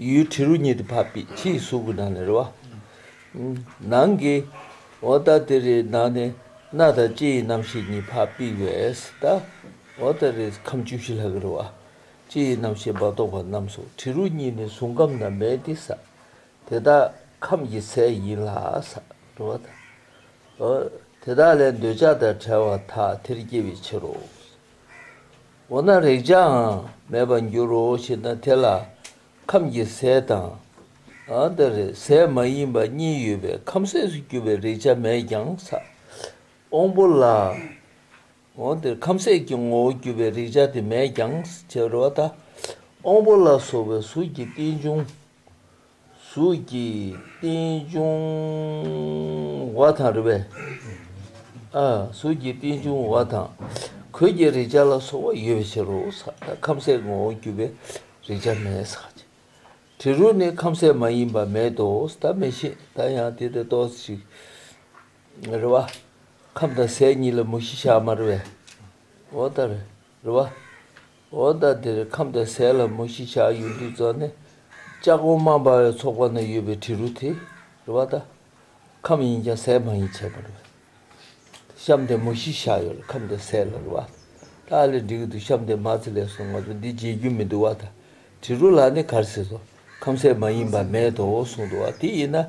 ཡུལ་གྲི་རུ་ཉིད་དུ་བབས་པས་ཕྱིའི་གཟུགས་ཀྱི་ནང་ནས་རེ་བ། ནང་གི་འོ་ད་དེ་རེའི་ནང་ནས་སྣ་དང་ལྕེ་ཡི་རྣམ་ཤེས་གཉིས་བབས་པས་བས་ད་འོ་ད་རེའི་ཁམས་བཅུ་བཞི་ལྷག་གི་རེ་བ། ལྕེ་ཡི་རྣམ་ཤེས་བ་དོག་པ་རྣམས་སོ་གྲི་རུ་ཉིད་ནས་བཟུང་ཁམས་རྣམས་མེད་དེ་ས་དེ་དག་ཁམས་ཀྱི་ཟས་ཡིན་ལ་ས་རེ་བ། དེ་དག་ལས་འདོད་ཆགས་དང་བྲལ་བ་དག་དེར་སྐྱེ་བའི་ཕྱིར་རོ། འོ་ན་རེག་བྱའང་མེད་པར་འགྱུར་རོ་ཞེ་ན་དེ་ལ་ཁམས་ཀྱི་ཟས་དང། འདི་རེག་ཟས་མ་ཡིན་པ་གཉིས་ཡོད་པས་ཁམས་ཟས་སུ་གྱུར་པའི་རེག་བྱ་མེད་ཀྱང་བསགས། པོ་ལ། འདིར་ཁམས་ཟས་ཀྱི་ངོ་བོར་གྱུར་པའི་རེག་བྱ་དེ་མེད་ཀྱང་བྱ་རོག་ད། པོ་ལ་སོགས་པའི་གཟུགས་ཀྱི་རྟེན་འབྱུང་གཟུགས་ཀྱི་རྟེན་འབྱུང་བ་དང་རེ་བའི། གཟུགས་ཀྱི་རྟེན་འབྱུང་བ་དང། གོས་ཀྱི་རེག་བྱ་ལ་སོགས་པ་ཡོད་པའི་ཕྱིར་རོ། ཁམས་གསལ་ངོ་བོར་གྱུར་པའི་རེག་བྱ་མེད། དྲི་རོ་ནི་ཁམས་གསལ་མ་ཡིན་པ་མེད་དོ། ད་མེད་བཞིན་ད་ཡང་དེ་ལྟར་རྟོགས་ཤིག། རེ་བ། ཁམས་དང་ཟས་གཉིས་ལ་མུ་བཞི་ཞག་མ་རེ་བའི། འོ་ད་རེ། རེད་བ། འོ་ད་འདིར་ཁམས་དང་ཟས་ལྷ་མོ་གཞིས་ཆགས་ཡོད་འདུག་ཙང་ནི། ལྕགས་གོང་མ་འབར་བའི་ཚོགས་པ་ན་ཡོད་པའི་དྲི་རུ་དེ། རེད་བ་ད། ཁམས་ཡིན་ཀྱང་ཟས་མ་ཡིན་བྱས་པ་རེད་བ། བཤམས་དེ་མོ་གཞིས་ཆགས་ཡོད་ལ་ཁམས་དང་ཟས་ལྷ་རེད་བ། ད་ཨ་ལས་འགྲིག་གི་འདུག་བཤམས་དེ་མ་ཚེ་ལས་སོང་ང་ཚོ་འདི་བརྗེད་རྒྱུ་མི་འདུག་བ་ད། དྲི་རུ་ལ་ནི་གར་ཟེར་སོ། ཁམས་ཟས་མ་ཡིན་པ་མེད་དོ་གསུངས་འདུག་བ་དེ་ཡིན་ན།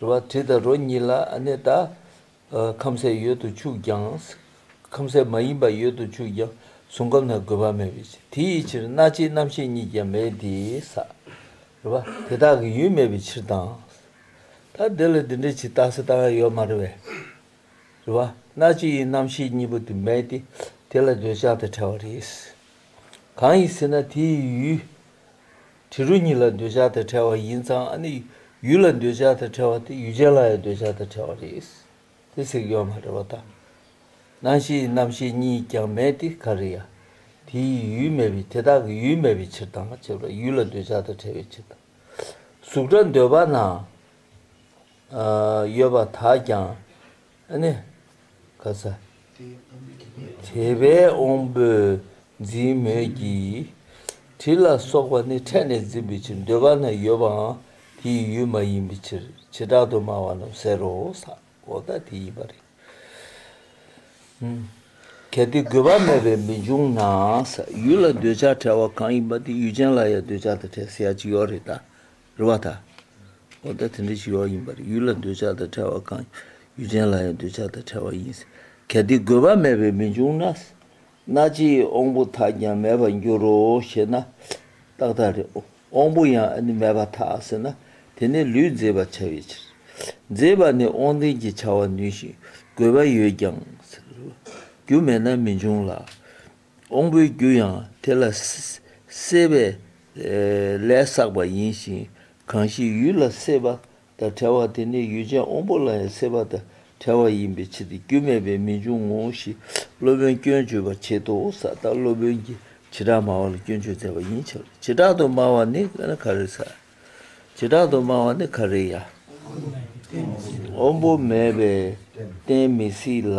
རུ་བ་དྲི་དང་རོ་གཉིས་ལ་ནི་ལྟ། ཁམ་ཟས་ཡོད་དུ་ཆུག་ཀྱང། ཁམ་ཟས་མ་ཡིན་པ་ཡོད་དུ་ཆུག་ཀྱང་གཟུང་ཁམས་དང་དགོས་པ་མེད་པའི་ཕྱིར་དེ་ཡི་ཕྱིར་སྣ་ལྕེའི་རྣམ་ཤེས་གཉིས་ཀྱང་མེད་དེ། རུ་བ་དེ་དག་གི་ཡུལ་མེད་པའི་ཕྱིར་དང། ད་འདི་ལ་འདི་འདྲའི་ཇི་ལྟ་སྲིད་ལྟ་བ་ཡོད་མ་རུ་བས། རུ་བ་སྣ་ལྕེའི་རྣམ་ཤེས་གཉིས་པོ་དེ་མེད་དེ། དེ་ལ་འདོད་ཆགས་དང་བྲལ་བ་རེད། གང་ཡིན་ཟེར་ན་དེ་ཡི་ཡུལ། དྲི་རོ་གཉིས་ལ་འདོད་ཆགས་དང་བྲལ་བ་ཡིན་ཙང་ཨ་ནི་ཡུལ་ལ་འདོད་ཆགས་དང་བྲལ་བ་དེ་ཡུལ་ཅན་ལ་ཡང་འདོད་ཆགས་དང་བྲལ་བ་རེད། དེ་ཟེར་གི་ཡོད་མ་རེད་བ་ད། སྣང་ཤེས་རྣམ་ཤེས་གཉིས་ཀྱང་མེད་དེ་ག་རེ་ཡ། དེ་ཡི་ཡུལ་མེད་པས་དེ་དག་གི་ཡུལ་མེད་པའི་ཕྱིར་དང་བྱས་པ་ཡུལ་ལ་འདོད་ཆགས་དང་བྲལ་བའི་ཕྱིར་དང། གཟུགས་སྒྲ་འདོད་པ་ན་ཡོད་པ་དག་ཀྱང་ཨ་ནི། ག་ས། དེ་བས་འོང་པོའི་འཛིན་མོད་ཀྱི། དྲི་ལ་སོགས་པ་ནི་ཕྲད་ནས་འཛིན་པའི་ཕྱིར་འདོད་པ་ན་ཡོད་པའང་དེའི་ཡུལ་མ་ཡིན་པའི་ཕྱིར་བྱེ་བྲག་ཏུ་སྨྲ་བ་རྣམས་ཟེར་རོ། ས་འོག་ད་དེ་ཡིན་པར་རིགས། གལ་ཏེ་དགོས་པ་མེད་པས་མི་འབྱུང་ན། ཡུལ་ལ་འདོད་ཆགས་བྲལ་བ་གང་ཡིན་པ་དེ་ཡུལ་ཅན་ལ་ཡང་འདོད་ཆགས་དང་བྲལ་ཟེར་ཡ་གཅིག་ཡོད་རེད་ད། རེ་བ་དང། འོ་ད་དེ་འདྲའི་ཞི་བ་ཡིན་པ་རེད་ཡུལ་ལ་འདོད་ཆགས་དང་བྲལ་བ་གང་ཡུལ་ཅན་ལ་ཡང་འདོད་ཆགས་དང་བྲལ་བ་ཡིན། གལ་ཏེ་དགོས་པ་མེད་པས་མི་འབྱུང་ན། སྣ་ལྕེའི་དབང་པོ་དག་ཀྱང་མེད་པར་འགྱུར་རོ་ཞེ་ན། ཏག་ཏག་རེད། དབང་པོ་ཡང་མེད་པར་ཐལ་ཟེར་ན། དེ་ནི་ལུས་མཛེས་པར་བྱ་བའི་ཕྱིར། མཛེས་པ་ནི་དབང་ལྡན་གྱི་བྱ་བ་ནུས་ཤིང་དགོས་པ་ཡོད་ཀྱང། རྒྱུ་མེད་ན་མི་འབྱུང་ལ། འོང་པོའི་རྒྱུ་ཡང་དེ་ལ་བསྲེས་པས་ལས་བསགས་པ་ཡིན་ཞིང་གང་ཞིག་ཡུལ་ལ་བསྲེས་པ་དང་བྲལ་བ་དེ་ནི་ཡུལ་ཅན་འོང་པོ་ལ་ཡང་བསྲེས་པ་དང་བྲལ་བ་ཡིན་པའི་ཕྱིར་ཏེ་རྒྱུ་མེད་པས་མི་འབྱུང་ངོ་ཞེས་སློབ་དཔོན་སྐྱོན་བརྗོད་པར་བྱེད་དོ་ས་ལྟར་སློབ་དཔོན་གྱིས་བྱེ་བྲག་སྨྲ་བ་ལ་སྐྱོན་བརྗོད་མཛད་པ་ཡིན་ཕྱིར་རོ། བྱེ་བྲག་ཏུ་སྨྲ་བ་ནི་ག་རེ་ས། བྱེ་བྲག་ཏུ་སྨྲ་བ་ནི་ག་རེ་ཡ། འོང་པོ་མེད་པས་བསྟན་མི་སྲིད་ལ།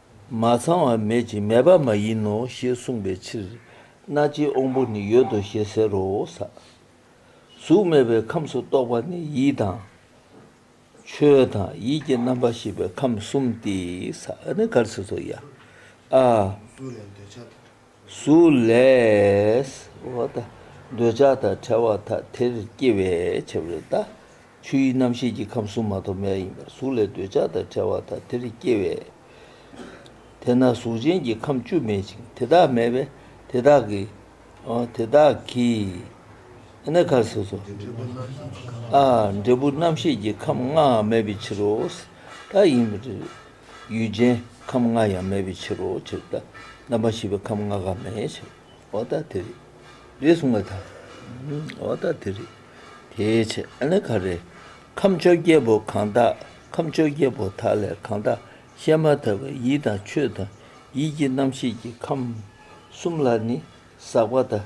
མ་ཚང་བ་མེད་ཅིང་མེད་པ་མ་ཡིན་ནོ་ཞེས་གསུངས་པའི་ཕྱིར། སྣ་ལྕེའི་དབང་པོ་ནི་ཡོད་དོ་ཞེས་ཟེར་རོ། གཟུགས་མེད་པའི་ཁམས་སུ་གཏོགས་པ་ནི་ཡིད་དང། ཆོས་དང་ཡིད་ཀྱི་རྣམ་པར་ཤེས་པའི་ཁམས་གསུམ་སྟེ། སུ་ལས། འོ་ད། འདོད་ཆགས་དང་བྲལ་བ་དག་དེར་སྐྱེ་བས་ཁྱབ་རེ་ད། ཆུ་ཡི་རྣམ་ཤེས་ཀྱི་ཁམས་གཟུགས་མ་ཐོབ་མེད་ཡིན་པར་གཟུགས་ལས་འདོད་ཆགས་དང་བྲལ་བ་དག་དེར་སྐྱེ་བས། དེས་ན་གཟུགས་ཅན་གྱི་ཁམས་བཅུ་མེད་ཅིང་དེ་དག་མེད་པས་དེ་དག་གི། དེ་དག་གི། ཨཱ། ཁ་ཟེར་སོ། འབྲས་བུ་རྣམ་ཤེས་ཀྱི་ཁམས་ལྔའང་མེད་པའི་ཕྱིར་རོ། ད་ཡིན། ཡུལ་ཅན་ཁམས་ལྔ་ཡང་མེད་པའི་ཕྱིར་རོ་ཅེ་སྟེ། རྣམ་པ་བཞི་པའི་ཁམས་ལྔ་གང་མེད་ཅེ། འོ་ད་དེ་རེད། རེད་གསུངས་པ་དང། འོ་ད་དེ་རེད། དེའི་ཕྱིར་ཨ་ནི་གང་རེད། ཁམས་བཅོ་བརྒྱད་པོ་གང་དག་ཁམས་བཅོ་བརྒྱད་པོ་དག་ལས་གང་དག་བཤད་མ་ཐག་པའི་ཡིད་དང་ཆོས་དང་ཡིད་ཀྱི་རྣམ་ཤེས་ཀྱི་ཁམས་གསུམ་ལ་ནི་ཟག་པ་དང་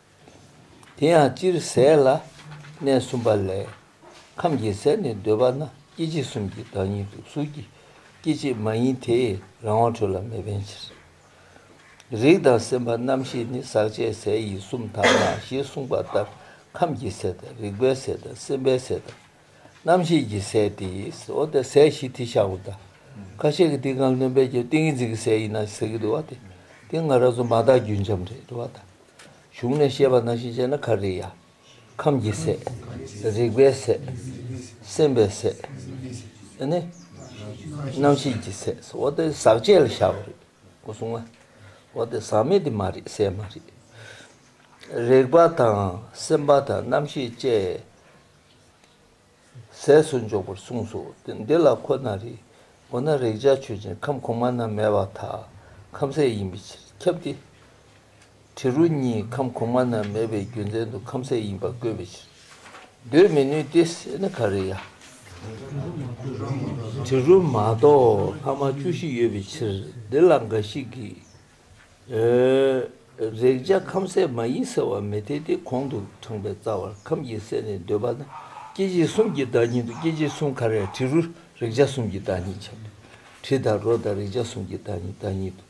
དེ་ཡང་སྤྱིར་ཟས་ལ་གནས་གསུམ་པ་ལས་ཁམས་ཀྱི་ཟས་ནི་འདོད་པ་ན་སྐྱེ་མཆེད་གསུམ་གྱི་བདག་ཉིད་དུ་གཟུགས་ཀྱི་སྐྱེ་མཆེད་མ་ཡིན་དེས་རང་དབང་འཕྲོད་ལ་མི་ཕན་ཕྱིར། རིགས་དང་སེམས་པ་རྣམ་ཤེས་ནི་ཟག་བཅས་ཟས་ཡིན་གསུམ་དག་ན་ཞེས་གསུངས་པ་ལྟར་ཁམས་ཀྱི་ཟས་དང་རིག་པའི་ཟས་དང་སེམས་པའི་ཟས་དང་རྣམ་ཤེས་ཀྱི་ཟས་ཏེ་ཟོ་དང་ཟས་བཞི་དེ་ཤ་འོ་ད་ཁ་ཤས་ཀྱི་ཏིང་ཀང་རྣོན་པས་ཀྱང་ཏིང་ངེ་འཛིན་གྱི་ཟས་ཡིན་ན་ཟེར་གྱི་འདུག་བ་དེ་ཏིང་ངེ་རགས་རྫུན་མ་དག་རྒྱུན་འབྱམས་རེད་བ་དང། བཞུགས་ནས་བཤད་པ་ན་ཤི་ཅེ་ན་ཁ་རི་ཡ། ཁམས་ཀྱི་སྲས། རིག་པའི་སྲས། སེམས་པའི་སྲས། ཨེ་ནི། རྣམ་ཤེས་ཀྱི་སྲས་སོ་འོ་དེ་ཟག་བཅས་ལ་བཞག་པ་རེད་གོ་གསུང་ཨ། འོ་དེ་ཟག་མེད་དེ་མ་རེད་སྲས་མ་རེད། རིག་པ་དང་སེམས་པ་དང་རྣམ་ཤེས་བཅས། ཟས་སུ་འཇོག་པར་གསུངས་སོ། འདི་ལ་ཁོ་ན་རེ། འོ་ན་རེག་བྱ་ཆོས་ཅན་ཁམས་གོང་མ་རྣམས་མེད་པ་དག་ཁམས་ཟས་ཡིན་པའི་ཕྱིར་ཁྱབ་སྟེ། དྲི་རོ་གཉིས་ཁམས་གོང་མ་རྣམས་མེད་པའི་རྒྱུ་མཚན་དུ་ཁམས་ཟས་ཡིན་པར་བཀོད་པའི་ཕྱིར། འདོད་མི་ནུས་ཏེ་ཟས་ནི་ག་རེ་ཡ། དྲི་རོ་མ་གཏོགས་ལྷག་མ་བཅུ་བཞི་ཡོད་པའི་ཕྱིར་འདི་ལ་འགའ་ཞིག་གིས། རེག་བྱ་ཁམ་ཟས་མ་ཡིན་ཟེར་བ་མི་འཐད་དེ་གོང་དུ་དྲངས་པའི་རྩ་བར་ཁམ་གྱི་ཟས་ནི་འདོད་པ་ན་སྐྱེ་མཆེད་གསུམ་གྱི་བདག་ཉིད་དུ་སྐྱེ་མཆེད་གསུམ་ག་རེ་དྲི་རུ་རེག་བྱ་གསུམ་གྱི་བདག་ཉིད་བྱ། དྲི་དང་རོ་དང་རེག་བྱ་གསུམ་གྱི་བདག་ཉིད་བདག་ཉིད་དུ་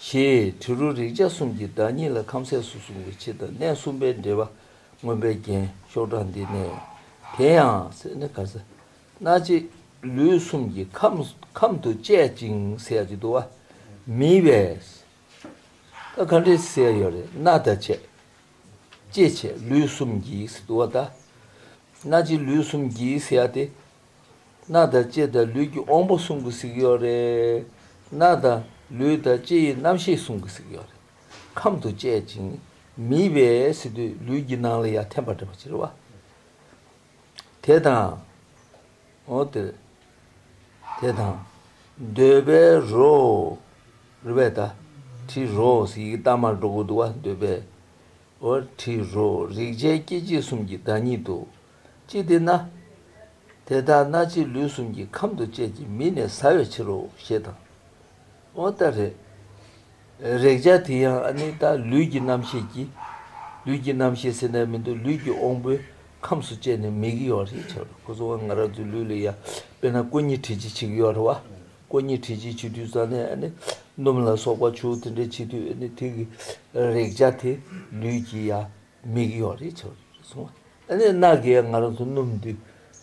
བྱེད། དྲི་རུ་རེག་བྱ་གསུམ་གྱི་བདག་ཉིད་ལ་ཁམ་ཟས་སུ་གསུངས་པའི་ཕྱིར་དང་གནས་གསུམ་པའི་འབྲེལ་པ་མངོན་པའི་རྒྱན་ཤོག་དྲངས་འདི་ནས། དེ་ཡང། སྣ་གཅིག་ལུས་གསུམ་གྱི་ཁམས་དུ་བཅད་ཅིང་བསལ་གྱི་འདུ་བ་མི་བས། ད་ག་འདྲའི་སེལ་ཡོད་རེ་སྣ་ད་བྱས། ཅི་བྱས་ལུས་གསུམ་གྱི་འདུ་བ་ད། སྣ་གཅིག་ལུས་གསུམ་གྱི་བསལ་ཏེ། སྣ་ད་ཅི་ད་ལུས་ཀྱི་དབང་པོ་གསུམ་གྱི་གཟིགས་ཡོད་རེ། སྣ་ད་ལུས་ད་ཅི་ཡི་རྣམ་ཤེས་གསུམ་གྱི་གཟིགས་ཡོད་རེ། ཁམས་དུ་བཅད་ཅིང་མི་བས་སི་ཏུ་ལུས་ཀྱི་སྣང་ལ་ཡ་ཐན་པ་འདྲ་བ་ཅི་རེ་བ། དེ་དང། འོ་དེ་དེ་དང། འདོད་པའི་རོ། རུས་པའི་ད། དྲི་རོ། ཡི་གེ་རྟགས་མར་སྒྲོ་སྐུར་དུ་བ་འདོད་པའི། འོ་དྲི་རོ། རེག་བྱའི་སྐྱེ་མཆེད་གསུམ་གྱི་བདག་ཉིད་དུ། ཅི་སྟེ་ན། དེ་དག་སྣ་ལྕེ་ལུས་གསུམ་གྱི་ཁམས་དུ་བཅས་ཀྱི་མི་ནས་ཟ་བའི་ཕྱིར་རོ་ཞེས་དང། འོ་ད་རེད། རེག་བྱ་དེ་ཡང་ཨ་ནི་ད་ལུས་ཀྱི་རྣམ་ཤེས་ཀྱིས། ལུས་ཀྱི་རྣམ་ཤེས་ཟེར་ནའི་མི་འདུག་ལུས་ཀྱི་དབང་པོའི་ཁམས་སུ་བཅད་ནས་མིག་གཡོ་བ་ཞིག་ཆགས་འགྲོ་ཁོ་ཚོ་ང་རང་ཚོའི་ལུས་ལ་ཡ་དཔེར་ན་ཀོ་གཉིས་བྲིས་ཅིག་ཆིག་ཡོར་བ། ཀོ་གཉིས་བྲིས་ཅིག་ཆིག་དུས་རྩ་ནས་ཨ་ནི་སྣུམ་ལ་སོགས་པ་བྱུག་དེ་འདྲའི་ཆིག་དུས་ཨ་ནི་ཐིག་གི་རེག་བྱ་དེ་ལུས་ཀྱི་ཡ་མིག་གཡོ་བ་རེད་ཆགས་འགྲོ་རེད་སོང་བ་ཨ་ནི་རྣག་གི་ཡ་ང་རང་ཚོ་སྣུམ་དུས་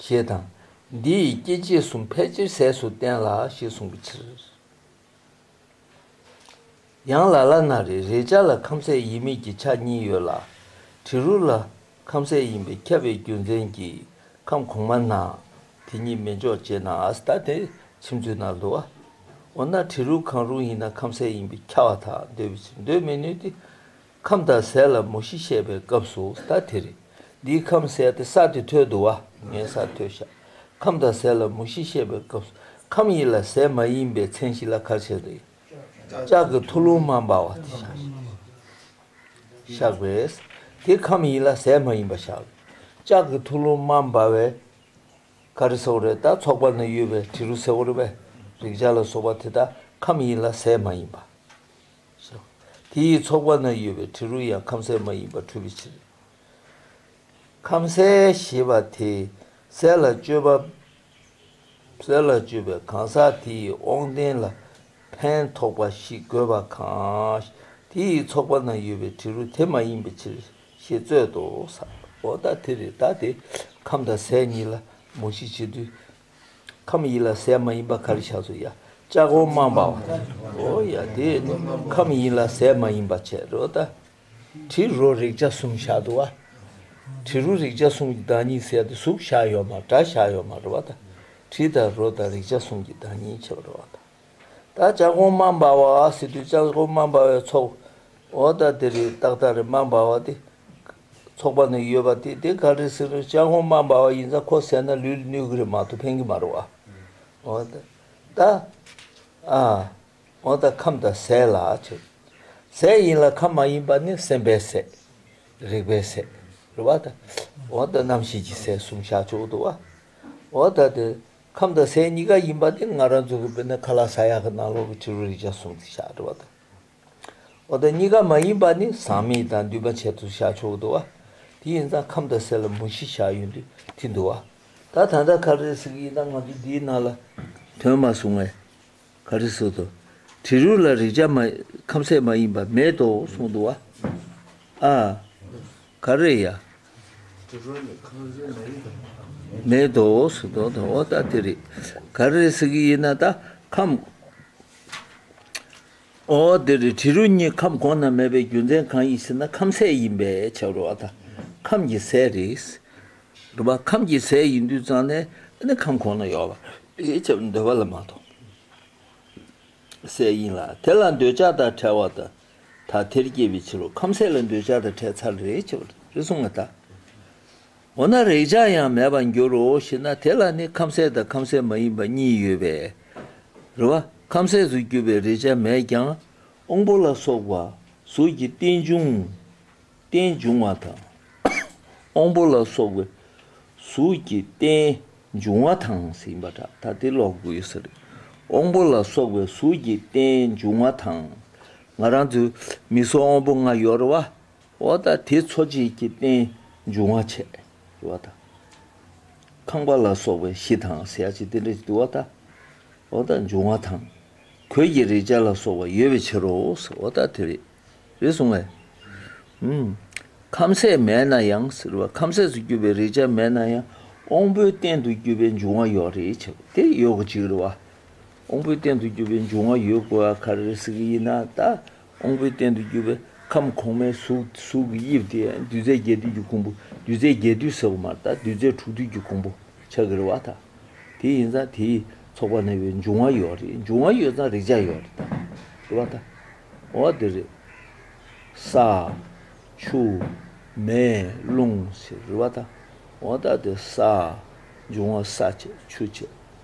ཞེས་དང། འདི་ཡི་སྐྱེ་མཆེད་གསུམ་ཕལ་ཆེར་ཟས་སུ་བསྟན་ལ་ཞེས་གསུངས་པའི་ཕྱིར། ཡང་ལ་ལ་ན་རེ་རེའི་ཆ་ལ་ཁམ་ཟས་ཡིན་མིན་གྱི་ཆ་གཉིས་ཡོད་ལ། དྲི་རུ་ལ་ཁམ་ཟས་ཡིན་པས་ཁྱབ་པའི་རྒྱུ་མཚན་གྱིས་ཁམ་གོང་མ་ན་དེ་གཉིས་མི་འཇོག་ཅེས་ན་ཨཱ་སྟ་ཏའི་མཆིམས་མཛོད་ན་བསྡུ་བ། འོ་ན་དྲི་རུ་གང་རུང་ཡིན་ན་ཁམ་ཟས་ཡིན་པས་ཁྱབ་བ་དག་འདོད་པའི་ཕྱིར་འདོད་མི་ནུས་ཏེ། ཁམས་དང་ཟས་ལ་མུ་བཞི་བཤད་པའི་སྐབས་སུ་ད་དེ་རེད། འདིའི་ཁམས་ཟས་དེ་ས་དེ་ཐོད་དུ་བ་ངའི་ས་ཐོད་བཞག་ཁམས་དང་ཟས་ལ་མུ་བཞི་བཤད་པའི་སྐབས་སུ་ཁམས་ཡིན་ལ་ཟས་མ་ཡིན་པའི་མཚན་གཞི་ལ་གར་བྱེད་དུ་ལྕགས་ཀྱི་ཐུ་ལུང་མ་འབར་བ་དེ་བཞག་པས། དེ་ཁམས་ཡིན་ལ་ཟས་མ་ཡིན་པ་བཞག་ལ་ལྕགས་ཀྱི་ཐུ་ལུང་མ་འབར་བས་ག་རེ་སེ་བོ་རེད་ད་ཚོགས་པ་ན་ཡོད་པའི་དྲི་རུ་སེ་བོ་རེ་བས་རེག་བྱ་ལ་སོགས་པ་དེ་དག་ཁམས་ཡིན་ལ་ཟས་མ་ཡིན་པ། སོ། དེ་ཡི་ཚོགས་པ་ན་ཡོད་པའི་དྲི་རོ་ཡང་ཁམ་ཟས་མ་ཡིན་པར་འཁྲུལ་པའི་ཕྱིར། ཁམ་ཟས་ཞེས་པ་དེ་ཟས་ལ་སྤྱོད་པ། ཟས་ལ་སྤྱོད་པའི་གང་ཟག་དེ་ཡི་དབང་རྟེན་ལ་ཕན་ཐོགས་པ་ཞིག་དགོས་པ་གང། དེ་ཡི་ཚོགས་པ་ན་ཡོད་པའི་དྲི་རོ་དེ་མ་ཡིན་པའི་ཕྱིར་ཞེས་རྩོད་དོ། འོ་ད་དེ་རེ་ད་དེ་ཁམ་དང་ཟས་གཉིས་ལ་མོ་ཤི་བྱེད་དུས་ཁམས་ཡིན་ལ་ཟས་མ་ཡིན་པ་ག་རེ་བྱ་ཚོད་ཡ། ལྕགས་འོ་མ་འབའ་བ། འོ་ཡ་དེ། ཁམས་ཡིན་ལ་ཟས་མ་ཡིན་པ་བྱེད་རོ་ད། དྲི་རོ་རེག་བྱ་གསུམ་བྱ་དུ་བ། དྲི་རོ་རེག་བྱ་གསུམ་གྱི་བདག་ཉིད་ཟས་དང་གཟུགས་བྱ་ཡོད་མ་དགྲ་བྱ་ཡོད་མ་རོ་བ་དང། དྲི་དང་རོ་དང་རེག་བྱ་གསུམ་གྱི་བདག་ཉིད་བྱེད་པ་རོ་བ་དང། ད་ལྕགས་འོ་མ་འབའ་བ། སི་ཏུ་ལྕགས་འོ་མ་འབའ་བའི་ཚོགས། འོ་ད་དེ་རི་དྭགས་དང་རི་མ་འབའ་བ་དེ། ཚོགས་པ་ནས་ཡོད་པ་དེ་དེ་ག་རེད་ཟེར་ནས་ཅང་ཧོ་མ་འབའ་བ་ཡིན་ཙང་ཁོ་བསད་ན་ལུས་ལ་གནོད་གི་རེད་མ་གཏོགས་ཕན་གི་མ་རེད་བ། འོ་ད། ད། ཨ། འོ་ད་ཁམས་ད་ཟས་ལ་ཆོད། ཟས་ཡིན་ལ་ཁམས་མ་ཡིན་པ་ནི་སེམས་པའི་ཟས། རེག་པའི་ཟས། རེད་བ། འོ་ད་རྣམ་ཤེས་ཀྱི་ཟས་གསུམ་བཞག་ཆོག་འདུག་བ། འོ་ད་དེ། ཁམས་ད་ཟས་གཉིས་ཀ་ཡིན་པ་དེ་ང་རང་ཚོ་གི་བོད་ནས་ཁ་ལ་ས་ཡ་གི་ནང་ལོག་གི་ཕྱི་རོལ་རིག་བྱ་གསུམ་དེ་བཞག་རེད་བ་ད། འོ་དང་གཉིས་ཀ་མ་ཡིན་པ་ནི་ཟག་མེད་དང་འདུས་པ་བྱད་དུ་བཞག་ཆོག་འདུག་བ། དེ་ཡིན་ཙང་ཁམས་དང་ཟས་ལ་མུ་བཞི་བཞག་ཡོད་འདུག་དེ་འདུག་བ། ད་ད་ལྟ་ག་རེ་ཟེར་གྱི་ཡིན་ད་ང་ཚོ་འདིའི་ནང་ལ་དོན་མ་བཟུང་བས་ག་རེ་ཟེར་དུ། དྲི་རུ་ལ་རེག་བྱ་མ་ཁམས་ཟས་མ་ཡིན་པ་མེད་དོ་གསུངས་འདུག་བ། ཨ། ག་རེ་ཡ། དྲི་རུ་ནི་ཁམས་ཟས་མ་ཡིན་པ་མེད། མེད་དོ་ཟེར་དོ་དང་འོ་ད་དེ་རེད་ག་རེ་ཟེར་གྱི་ཡིན་ན་ད་ཁམས། ཨོ་འདིར་དྲི་རོ་གཉིས་ཁམས་གོང་ན་མེད་པའི་རྒྱུ་མཚན་གང་ཡིན་ཟེར་ན་ཁམས་ཟས་ཡིན་པས་བྱ་རུ་བ་དང་ཁམས་ཀྱི་ཟས་རེད། རུ་བ་ཁམས་ཀྱི་ཟས་ཡིན་དུས་ཙང་ནས་ནི་ཁམས་གོང་ན་ཡོད་པར་བྱ་བར་འདོད་པ་ལ་མ་གཏོགས་ཟས་ཡིན་ལ་དེ་ལ་འདོད་ཆགས་དང་བྲལ་བ་དང་དག་ཐེར་སྐྱེས་པའི་ཕྱིར་རོ་ཁམས་ཟས་ལ་འདོད་ཆགས་དང་བྲལ་ཚར་རེད་བྱ་བར་གསུངས་པ་དང། འོ་ན་རེག་བྱ་ཡང་མེད་པར་འགྱུར་རོ་ཞེ་ན་དེ་ལ་ནི་ཁམ་ཟས་དང་ཁམ་ཟས་མ་ཡིན་པ་གཉིས་ཡོད་པས་རེ་བ། ཁམ་ཟས་སུ་གྱུར་པའི་རེག་བྱ་མེད་ཀྱང་དབང་པོ་ལ་སོགས་པ་གཟུགས་ཀྱི་རྟེན་འབྱུང། རྟེན་འབྱུང་བ་དང། དབང་པོ་ལ་སོགས་པའི་གཟུགས་ཀྱི་རྟེན་འབྱུང་བ་དང་ཟིན་པ་འདྲ་ད་དེ་ལོག་དགོས་ཟེར། དབང་པོ་ལ་སོགས་པའི་གཟུགས་ཀྱི་རྟེན་འབྱུང་བ་དང། ང་རང་ཚོའི་མིག་སོགས་དབང་པོ་ལྔ་ཡོད་རེ་བ། འོག་དང་དེའི་འཚོ་བྱེད་ཀྱི་རྟེན་འབྱུང་བ་ཆད་འགྱུར་བ་དང། ཁང་པ་ལ་སོགས་པའི་གཞི་དང་ཟས་ཀྱི་རྟེན་འབྲེལ་གྱི་འདུལ་བ་དང། འོག་དང་འབྱུང་བ་དང། གོས་ཀྱི་རེག་བྱ་ལ་སོགས་པ་ཡོད་པའི་ཕྱིར་རོ། འོག་དང་དེ་རེག་རེག་གསུངས་པས། ཁམས་ཟས་མེད་ན་ཡང་ཟེར་བ་ཁམས་ཟས་སུ་གྱུར་པའི་རེག་བྱ་མེད་ན་ཡང་དབང་པོའི་རྟེན་དུ་གྱུར་པའི་འབྱུང་བ་ཡོད་རེ་བྱ་བ་དེ་ཡོད་དགོས་ཅི་རེ་བ། དབང་པོའི་རྟེན་དུ་གྱུར་པའི་འབྱུང་བ་ཡོད་དགོས་བ་ག་རེ་ཟེར་གྱི་ཡིན་ན་ད་ཨོང་བུའི་རྟེན་དུ་གྱུར་པའི་ཁམས་གོང་མའི་གཟུགས་ཀྱི་དབྱིབས་དེ་རྡུལ་རྫས་བརྒྱད་འདུས་ཀྱི་གོང་བུ་རྡུལ་རྫས་བརྒྱད་འདུས་ཟེར་བ་མ་གཏོགས་རྡུལ་རྫས་དྲུག་འདུས་ཀྱི་གོང་བུ་ཆགས་ཀྱི་རེད་བ་དང། དེ་ཡིན་ཙང་དེའི་ཚོགས་པ་ནང་བའི་འབྱུང་བ་ཡོད་རེད་འབྱུང་བ་ཡོད་ཙང་རེག་བྱ་ཡོད་རེད་དམ་ཞེས་བ་དང། འོ་དེ་རེད། ས། ཆུ། མེ། རླུང། ཟེར་བ་དང། འོ་ད་དེ་ས། འབྱུང་བ་ས་བྱེད་ཆུ་བྱེད།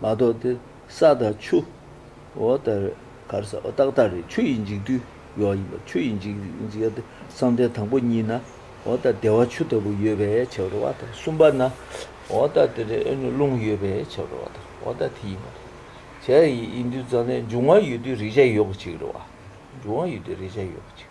མ་གཏོགས་ཏེ། ས་དང་ཆུ། འོ་ལྟར་གར་ས་འོ་རྟགས་ལྟར་རེད་ཆུ་ཡིས་འཇིག་དུས་ཡོག་ཡིན་པ་ཆུ་ཡིས་འཇིག་འཇིག་ཡོག་ཏེ་བསམ་གཏན་དང་པོ་གཉིས་ན་འོ་ལྟར་བདེ་བ་ཆུ་ལྟ་བུ་ཡོད་པའི་ཕྱིར་རོ་བ་དང་གསུམ་པ་ན་འོ་ལྟར་དེ་རེ་ཨེ་ནུ་རླུང་ཡོད་པའི་ཕྱིར་རོ་བ་དང་འོ་ལྟར་དེ་ཡིན་པ་རེད། བྱས་ཡིན་དུས་རྩ་ལན་འབྱུང་བ་ཡོད་དུས་རེག་བྱ་ཡོད་པ་ཅིག་རེད་བ། འབྱུང་བ་ཡོད་དུས་རེག་བྱ་ཡོད་པ་ཅིག།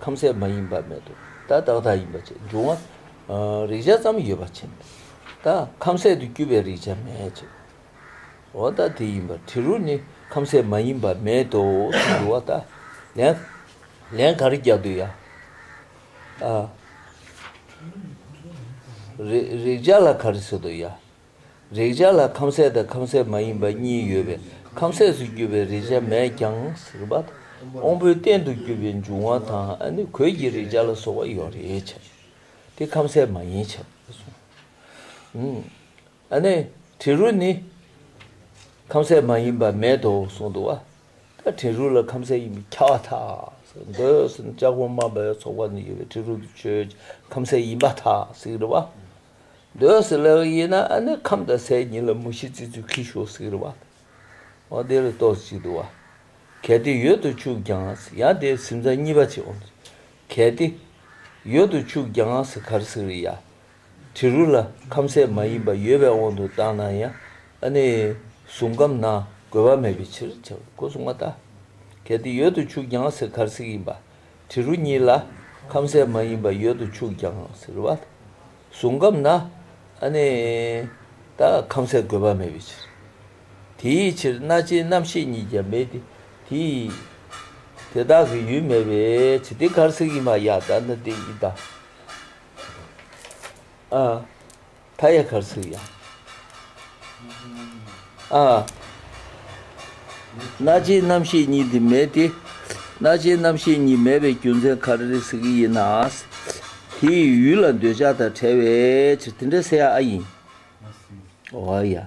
ཁམ་ཟས་མ་ཡིན་པ་མེད་དོ། ད་བདག་དག་ཡིན་པ་ཆེ་འབྱུང་བ། རེག་བྱ་ཙམ་ཡོད་པ་ཆེ། ད་ཁམ་ཟས་དུ་སྐྱུར་པའི་རེག་བྱ་མེད་ཆེ། འོ་ད་དེ་ཡིན་པ་དྲི་རོ་ནི་ཁམ་ཟས་མ་ཡིན་པ་མེད་དོ་ཞེས་འབྱུང་བ། ད་ལན་ག་རེ་རྒྱག་འདོད་ཡ། རེག་བྱ་ལ་ག་རེ་བཟོ་འདོད་ཡ། རེག་བྱ་ལ་ཁམ་ཟས་དང་ཁམ་ཟས་མ་ཡིན་པ་གཉིས་ཡོད་པས་ཁམ་ཟས་སུ་གྱུར་པའི་རེག་བྱ་མེད་ཀྱང་ཟིལ་པ་དང་དབང་པོའི་རྟེན་དུ་གྱུར་པའི་འབྱུང་བ་དང་ནི་གོས་ཀྱི་རེག་བྱ་ལ་སོགས་པ་ཡོད་རེག་བྱ་དེ་ཁམ་ཟས་མ་ཡིན་བྱ་བའི་དྲི་རོ་ནི་ཁམ་ཟས་མ་ཡིན་པ་མེད་དོ་གསུངས་འདུག་བ་ད་དྲི་རོ་ལ་ཁམ་ཟས་ཡིན་པའི་ཁྱད་པར་དག་འདོད་ཟིན་ལྕགས་ཕོ་རྨ་བའི་ཚོགས་པ་ནི་ཡོད་པའི་དྲི་རོ་དུ་ཆོས་ཀྱི་ཁམ་ཟས་ཡིན་པ་དག་ཟིལ་པ། འདོད་སྲེད་ལས་ཡིན་ན་ཨ་ནི་ཁམས་དང་སའི་གཉིས་ལ་མུ་བཞི་བརྩི་ཚུལ་གྱིས་ཞོག་ཟེར་བ་ལ། འོ་དེ་ལ་གཏོགས་ཅི་འདུག་བ། གལ་ཏེ་ཡོད་དུ་ཆུག་ཀྱང་ཡང་དེའི་སེམས་ཙམ་གཉིས་པ་ཆེའོ། གལ་ཏེ། ཡོད་དུ་ཆུག་ཀྱང་གར་ཟེར་བའི་ཡ། དྲི་རུ་ལ་ཁམས་སའི་མ་ཡིན་པ་ཡོད་པའི་དབང་དུ་བཏང་ན་ཡང་ཨ་ནི་གཟུང་ཁམས་ན་དགོས་པ་མེད་པའི་ཕྱིར་བྱ་བའི་སྒོ་བཟུང་བ་ལྟ། གལ་ཏེ་ཡོད་དུ་ཆུག་ཀྱང་གར་ཟེར་ཡིན་པ། དྲི་རུ་གཉིས་ལ་ཁམ་ཟས་མ་ཡིན་པ་ཡོད་དུ་ཆུག་ཀྱང་ཟེར་བ་ལ་གཟུང་སྐབས་ན་ནི་ད་ཁམ་ཟས་དགོས་པ་མེད་པའི་ཕྱིར། དེའི་ཕྱིར་སྣ་ལྕེའི་རྣམ་ཤེས་གཉིས་ཀྱང་མེད་དེ། དེ་དག་གི་ཡུལ་མེད་པའི་ཕྱིར་དེ་གར་ཟིག་ཡིན་པ་ཡང་དག་ན་དེ་ཡིན་དང། མཐའ་ཡས་གར་ཚུགས་ཡང། ཨ། རྣ་ལྕེའི་རྣམ་ཤེས་གཉིས་འདི་མེད་དེ། རྣ་ལྕེའི་རྣམ་ཤེས་གཉིས་མེད་པའི་རྒྱུ་མཚན་ག་རེ་རེད་ཟེར་གྱི་ཡིན་ན། དེ་ཡི་ཡུལ་ལ་འདོད་ཆགས་དང་བྲལ་བའི་ཕྱིར་དེ་འདྲ་ཟེར་ཡ་ཨ་ཡིན། འོ་ཡ།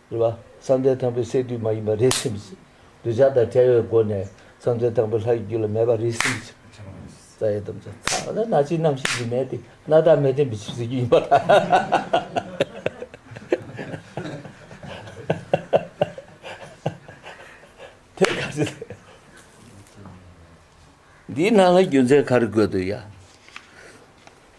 རེད་བ། བསམ་གཏན་དང་པོའི་སས་བསྡུས་མ་ཡིན་པ་རེ་ཟུང་གིས་གདུལ་བྱ་དང་བྲལ་བའི་སྒོ་ནས་བསམ་གཏན་དང་པོའི་ལྷ་ཡི་རྒྱུད་ལ་མེད་པ་རེ་ཟུང་གིས། རྩ་ཡི་དམ་བཅའ། ཚངས་པའི་སྣ་གཅིག་རྣམ་ཤེས་ཀྱི་མེ་སྟེ་སྣ་ལྟར་མེ་བསྟན་པའི་ཕྱིར་ཟེར་རྒྱུ་ཡིན་པ་དང། འདིའི་ནང་ལ་རྒྱུ་མཚན་ག་རེ་འགོད་འདོད་ཡ།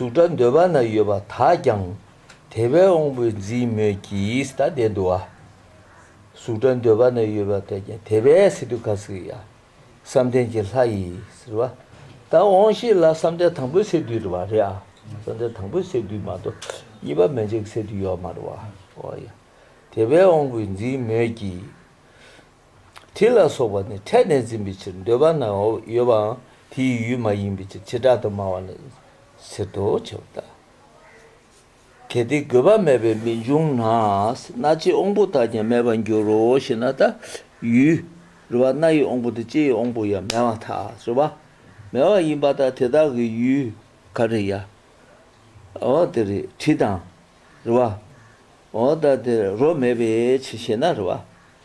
གཟུགས་སྒྲ་འདོད་པ་ན་ཡོད་པ་དག་ཀྱང་དེ་བས་འོང་བས་འཛིན་མོད་ཀྱི་ད་ལྟའི་འདུ་བ། གཟུགས་སྒྲ་འདོད་པ་ན་ཡོད་པ་དག་ཀྱང་དེ་བས་སི་ཏུ་ཀ་སི་ཡ། བསམ་གཏན་གྱི་ལྷ་ཡིས་རེ་བ། ད་འོང་ཤིག་ལ་བསམ་གཏན་དང་པོའི་སས་བསྡུས་རེ་བ་རེ་ཨ། བསམ་གཏན་དང་པོའི་སས་བསྡུས་མ་གཏོགས་གཉིས་པ་མན་ཆད་ཀྱི་སས་བསྡུས་ཡོད་མ་རེ་བ་ཨོ་ཡ། དེ་བས་འོང་བས་འཛིན་མོད་ཀྱི། དྲི་ལ་སོགས་པ་ནི་ཕྲད་ནས་འཛིན་པའི་ཕྱིར་འདོད་པ་ན་ཡོད་པའང་དེའི་ཡུལ་མ་ཡིན་པའི་ཕྱིར་བྱེ་བྲག་ཏུ་སྨྲ་བ་ནི་ཟེར་ཏོ་ཕྱི་མ་དག་གལ་ཏེ་དགོས་པ་མེད་པས་མི་འབྱུང་ན་སྣ་ལྕེའི་དབང་པོ་དག་ཀྱང་མེད་པར་འགྱུར་རོ་ཞེ་ན་ད་ཡུལ་རེ་བ་སྣ་ཡི་དབང་པོ་དང་ལྕེའི་དབང་པོ་ཡང་མེད་མ་ཐག་རེ་བ་མེད་པ་ཡིན་པ་དང་དེ་དག་གི་ཡུལ་ག་རེ་ཡ་འོ་དེ་རེ་དྲི་དང་རེ་བ་འོ་ད་དེ་རོ་མེད་པའི་ཕྱིར་ཞེ་ན་རེ་བ།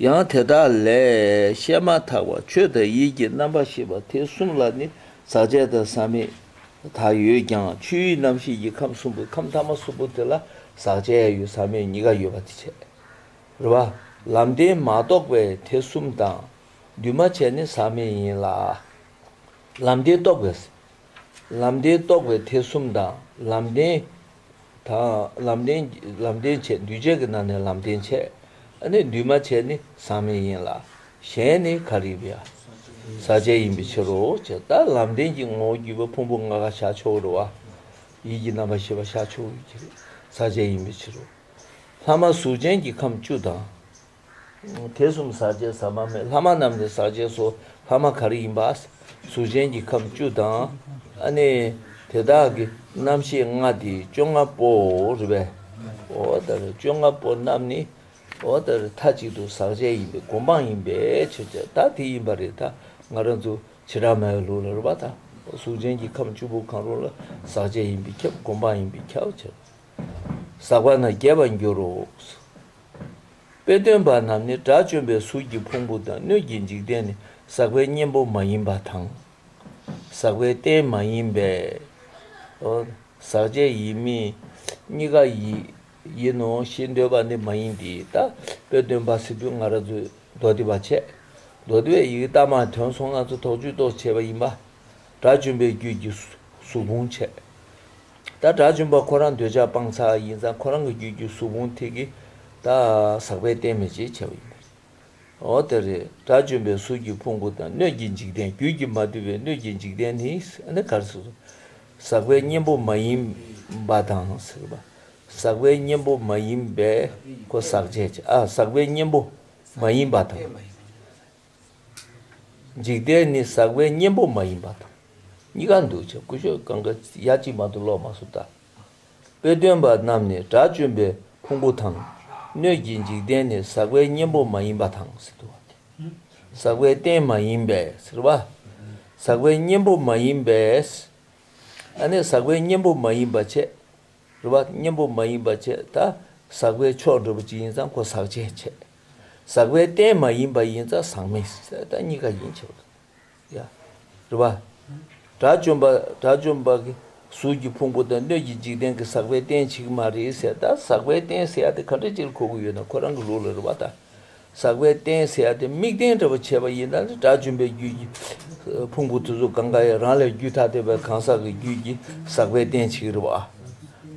ཡང་དེ་དག་ལས་བཤད་མ་ཐག་པ་ཆོས་དང་ཡིད་ཀྱི་རྣམ་པ་ཞེས་པ་དེ་གསུམ་ལ་ནི་ཟག་བཅས་དང་ཟག་མེད་དག་ཡོད་ཀྱང་ཆོས་དབྱིངས་རྣམ་ཤེས་ཀྱི་ཁམས་གསུམ་པོའི་ཁམས་ཐ་མ་གསུམ་པོ་དེ་ལ་ཟག་བཅས་ཡོད་ཟག་མེད་གཉིས་ཀ་ཡོད་པ་དེ་བྱེད་རེ་བ། ལམ་བདེན་མ་རྟོགས་པས་དེ་གསུམ་དང་འདུས་མ་བྱས་ནི་ཟག་མེད་ཡིན་ལ། ལམ་བདེན་རྟོགས་པས། ལམ་བདེན་རྟོགས་པས་དེ་གསུམ་དང་ལམ་བདེན། དང། ལམ་བདེན། ལམ་བདེན་བྱེད་འདུས་བྱས་ཀྱི་ནང་ནས་ལམ་བདེན་བྱེད། ནི་འདུས་མ་བྱས་ནི་ཟག་མེད་ཡིན་ལ། གཞན་ནི་ག་རིག་པའི། ཟག་བཅས་ཡིན་པའི་ཕྱིར་རོ། ད་ལམ་བདེན་གྱི་ངོ་བོ་བརྒྱུད་པ་ཕུང་པོ་ལྔ་ག་ཤ་ཆོག་རུ་བ། ཡིད་ཀྱི་རྣམ་པ་ཤེས་པ་ཤ་ཆོག་རུ་གྱི་ཟག་བཅས་ཡིན་པའི་ཕྱིར་རོ། ལྷག་མ་གཟུགས་ཅན་གྱི་ཁམས་བཅུ་དང། དེ་གསུམ་ཟག་བཅས་ཟ་མ་མེད་ལྷ་མ་རྣམས་ནི་ཟག་བཅས་སོ་ལྷ་མ་ག་རེ་ཡིན་པ། གཟུགས་ཅན་གྱི་ཁམས་བཅུ་དང། ཨ་ནི། དེ་དག་གི་རྣམ་ཤེས་ལྔ་སྟེ་བཅོ་ལྔ་པོའོ། རེ་བའི། འོ་ད་རེ་བཅོ་ལྔ་པོ་རྣམས་ནི། འོ་ད་རེ་མཐའ་གཅིག་ཏུ་ཟག་བཅས་ཡིན་པའི་སྒོམ་སྤང་ཡིན་པའི་ཕྱིར་ཏེ་ད་དེ་ཡིན་པ་རེ་ད་ང་རང་ཚོ་བྱེ་བྲག་མའི་ལུགས་ལ་རེ་བ་དང་གཟུགས་ཅན་གྱི་ཁམས་བཅུ་པོ་གང་རུང་ལ་ཟག་བཅས་ཡིན་པའི་ཁྱབ་སྒོམ་སྤང་ཡིན་པའི་ཁྱབ་བྱ། ཟག་པ་ན་རྒྱས་པར་འགྱུར་རོ། དཔེ་སྟོན་པ་རྣམས་ནི་དགྲ་བཅོམ་པའི་གཟུགས་ཀྱི་ཕུང་པོ་དང་སྣོད་ཀྱི་འཇིག་རྟེན་ནི་ཟག་པའི་གཉེན་པོ་མ་ཡིན་པ་དང། ཟག་པའི་རྟེན་མ་ཡིན་པའོ། ཟག་བཅས་ཡིན་མིན་གཉིས་ཀ་ཡིན་ནོ་ཞེས་འདོད་པ་ནི་མ་ཡིན་ཏེ། ད་དཔེ་སྟོན་པ་སི་ཏུ་ང་ར་ཛུས་མདོ་སྡེ་པ་ཆད་མདོ་སྡེ་བའི་ཡི་གེ་རྟགས་མ་དོན་སོང་ལྔ་ཚོ་དོགས་ཇུས་གཏོགས་བྱས་པ་ཡིན་པ། དགྲ་བཅོམ་པའི་རྒྱུད་ཀྱི་གཟུགས་ཕུང་འཆད། ད་དགྲ་བཅོམ་པ་ཁོ་རང་འདོད་ཆགས་སྤང་ཚག་ཡིན་ཙང་ཁོ་རང་གི་རྒྱུད་ཀྱི་གཟུགས་ཕུང་ཐིག་གི་ད་ཟག་པས་བསྟན་མེད་ཅེས་བྱ་བ་ཡིན་པས་འོ་དེ་རེད་དགྲ་བཅོམ་པའི་གཟུགས་ཀྱི་ཕུང་པོ་དང་སྣོད་ཀྱི་འཇིག་རྟེན་རྒྱུད་ཀྱི་མ་དུལ་བའི་སྣོད་ཀྱི་འཇིག་རྟེན་ནི་ནི་གར་ཟག་པའི་གཉེན་པོ་མ་ཡིན་པ་དང་ཟག་པའི་གཉེན་པོ་མ་ཡིན་པས་ཟག་བཅས་ཟག་པའི་གཉེན་པོ་མ་ཡིན་པ་དང། འཇིག་རྟེན་ནི་ཟག་པའི་གཉེན་པོ་མ་ཡིན་པ་དང། གཉི་ག་འདུ་བྱེད་ཀུན་སྤྱོད་གང་གཱའི་ཡ་གཅིག་མ་དུ་ལོག་མ་སུ་ཏཱ། དཔེ་སྟོན་པ་རྣམས་ནི་དགྲ་བཅོམ་པའི་ཕུང་པོ་དང། སྣོད་ཀྱི་འཇིག་རྟེན་ནི་ཟག་པའི་གཉེན་པོ་མ་ཡིན་པ་དང་ཟེར་ཏོ། ཟག་པའི་རྟེན་མ་ཡིན་པས་ཟེར་བ། ཟག་པའི་གཉེན་པོ་མ་ཡིན་པས། ཨ་ནི་ཟག་པའི་གཉེན་པོ་མ་ཡིན་པ་བྱས། རེ་བ། གཉེན་པོ་མ་ཡིན་པ་བྱས་ད། ཟག་པའི་ཕྱོགས་འགྲོལ་པ་ཅི་ཡིན་ཙང་ཁོ་ཟག་བྱེད་བྱས། ཟག་པའི་རྟེན་མ་ཡིན་པ་ཡིན་ཙང་ཟག་མེད་གསལ་བཏགས་གཉིས་ཀ་ཡིན་ཆོག་ལ། ཡ། རེད་པ། དགྲ་བཅོམ་པ་དགྲ་བཅོམ་པ་གི་གཟུགས་ཀྱི་ཕུང་པོ་དང་སྣོད་ཀྱི་འཇིག་རྟེན་གྱི་ཟག་པའི་རྟེན་བྱེད་ཀྱི་མ་རེད་གསལ་བཏགས་ཟག་པའི་རྟེན་གསལ་བཏགས་ག་འདྲ་ཅིར་གོ་གི་ཡོད་ན་ཁོ་རང་གི་ལུགས་ལ་རེད་པ་ད། ཟག་པའི་རྟེན་གསལ་བཏགས་དམིགས་རྟེན་འདྲ་བ་བྱས་པ་ཡིན་ན་ནི་དགྲ་བཅོམ་པའི་རྒྱུད་ཀྱི་ཕུང་པོ་དེ་ཚོ་གང་ག་ཡང་རང་ལས་རྒྱུད་ཐ་དད་པའི་གང་ཟག་གི་རྒྱུད་ཀྱི་ཟག་པའི་རྟེན་བྱེད་ཀྱི་རེད་པ།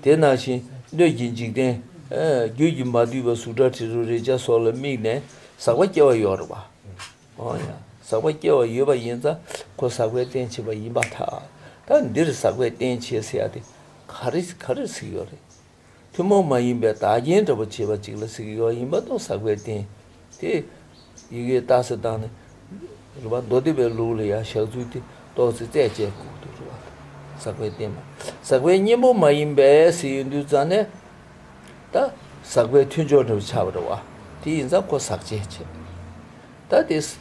དེ་ན་བཞིན་སྣོད་ཀྱི་འཇིག་རྟེན། རྒྱུད་ཀྱི་མ་བསྡུས་པ་གཟུགས་སྒྲ་དྲི་རོ་རེག་བྱ་སོགས་ལ་དམིགས་ནས་ཟག་པ་སྐྱེ་བ་ཡོད་རེད། འོན་ཡང་ཟག་པ་སྐྱེ་བ་ཡོད་པ་ཡིན་ཙང་ཁོ་ཟག་པའི་རྟེན་བྱེད་པ་ཡིན་པ་ཐག་ད་འདིར་ཟག་པའི་རྟེན་བྱེད་ཟེར་ཡ་དེ་ག་རེ་ག་རེར་གཟིགས་ཡོད་རེད། ཐུན་མོང་མ་ཡིན་པའི་བདག་རྐྱེན་འདྲ་པོ་བྱེད་པ་ཅིག་ལ་གཟིགས་ཡོད་ཡིན་པ་དང་ཟག་པའི་རྟེན་དེ་ཡི་གེའི་རྟགས་སུ་བཏགས་ནས། རུ་པ་མདོ་སྡེ་པའི་ལུགས་ལ་ཡང་ཞག་ཚུལ་ཏེ་ཏོག་ཙེ་རྩད་བཅད་ཁུག་ཏུ་རུ་བ་དང་ཟག་པའི་རྟེན་མ། ཟག་པའི་གཉེན་པོ་མ་ཡིན་པས་སྲི་ཡོན་འདུལ་རྩ་ནས། ད་ཟག་པའི་མཐུན་སྦྱོར་འབྲེལ་པ་ཆགས་པར་རུ་བ། དེ་ཡིན་ཙམ་ཁོ་ཟག་བཅད་བྱེད། ད་དེ། ཟག་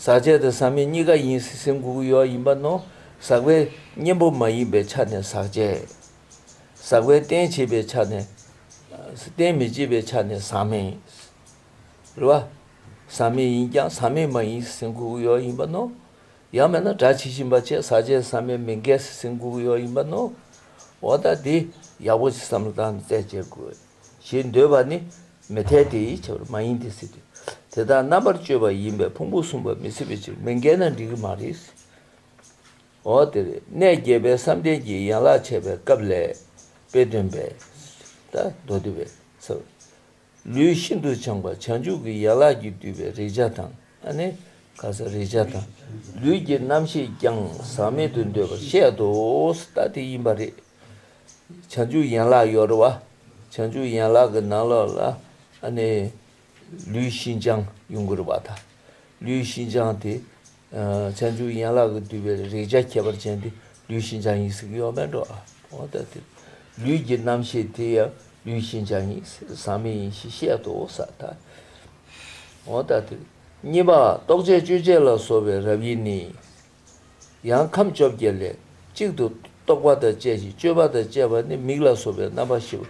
བཅད་དང་ཟག་མེད་གཉིས་ཀ་ཡིན་སྲིད་སེམས་འགུགས་ཡོ་བ་ཡིན་པ་ནོ། ཟག་པའི་གཉེན་པོ་མ་ཡིན་པའི་ཆ་ནས་ཟག་བཅད། ཟག་པའི་རྟེན་བྱེད་པའི་ཆ་ནས་རྟེན་མི་བྱེད་པའི་ཆ་ནས་ཟག་མེད་ཡིན། རེད་བ། ཟག་མེད་ཡིན་ཀྱང་ཟག་མེད་མ་ཡིན་སེམས་འགུག་གི་ཡོ་ཡིན་པ་ནོ། ཡང་མེད་ན་སྒྲ་ཇི་བཞིན་པ་བཅས་ཟག་བཅས་ཟག་མེད་མི་འགལ་སེམས་འགུག་གི་ཡོ་ཡིན་པ་ནོ། འོ་ད་དེ་ཡག་པོ་ཞིག་བསམ་བློ་བཏང་ནས་བཙལ་དཔྱད་དགོས། ཞེས་འདོད་པ་ནི་མི་འཐད་དེ་ཡིད་ཆེས་པར་མ་ཡིན་ཏེ་སྲིད། དེ་དག་རྣམ་པར་དཔྱོད་པ་ཡིན་པས་ཕུང་པོ་གསུམ་པ་མི་སྲིད་པའི་ཕྱིར་མི་འགལ་ན་འགྲིག་གི་མ་རེད། འོ་དེར་གནས་དགྱེས་པའི་བསམ་གཏན་གྱི་ཡན་ལག་འཆད་པའི་སྐབས་ལས། དཔེ་སྟོན་པས། མདོ་སྡེ་པས། ལུས་ཤིན་ཏུ་བྱང་བ་བྱང་ཆུབ་ཀྱི་ཡན་ལག་གིས་བསྡུས་པའི་རེག་བྱ་དང། རེག་བྱ་དང། ལུས་ཀྱི་རྣམ་ཤེས་ཀྱང་ཟག་མེད་དུ་འདོད་པར་བཤད་དོ། དེ་ཡིན་པ་རེད། བྱང་ཆུབ་ཡན་ལག་ཡོ་ར་བ། བྱང་ཆུབ་ཡན་ལག་གི་ནང་ལོགས་ལ། ལུས་ཤིན་སྦྱངས་ཡུངས་ཀར་བ་དང། ལུས་ཤིན་སྦྱངས་དེ། ཚན་ཆུང་ཡན་ལག་གིས་བསྡུས་པའི་རེག་བྱ་ཁྱད་པར་ཅན་དེ་ལུས་ཤིན་སྦྱངས་ཡིན་ཟེར་གྱི་ཡོད་མེད་འགྲོ། ལུས་ཀྱི་རྣམ་ཤེས་དེ་ཡང་ལུས་ཤིན་སྦྱངས་ཡིན་ཟག་མེད་ཡིན་ཞེས་བཤད་དོ། གཉིས་པ། རྟོག་བཅས་དཔྱོད་བྱེད་ལ་སོགས་པའི་རབ་དབྱེ་ནི། ཡང་ཁམས་བཅོ་བརྒྱད་ལས་གཅིག་ཏུ་རྟོག་པ་དང་བཅས་ཤིང་དཔྱོད་པ་དང་བཅས་པ་ནི་མིག་ལ་སོགས་པའི་རྣམ་པ་ཤེས་པ།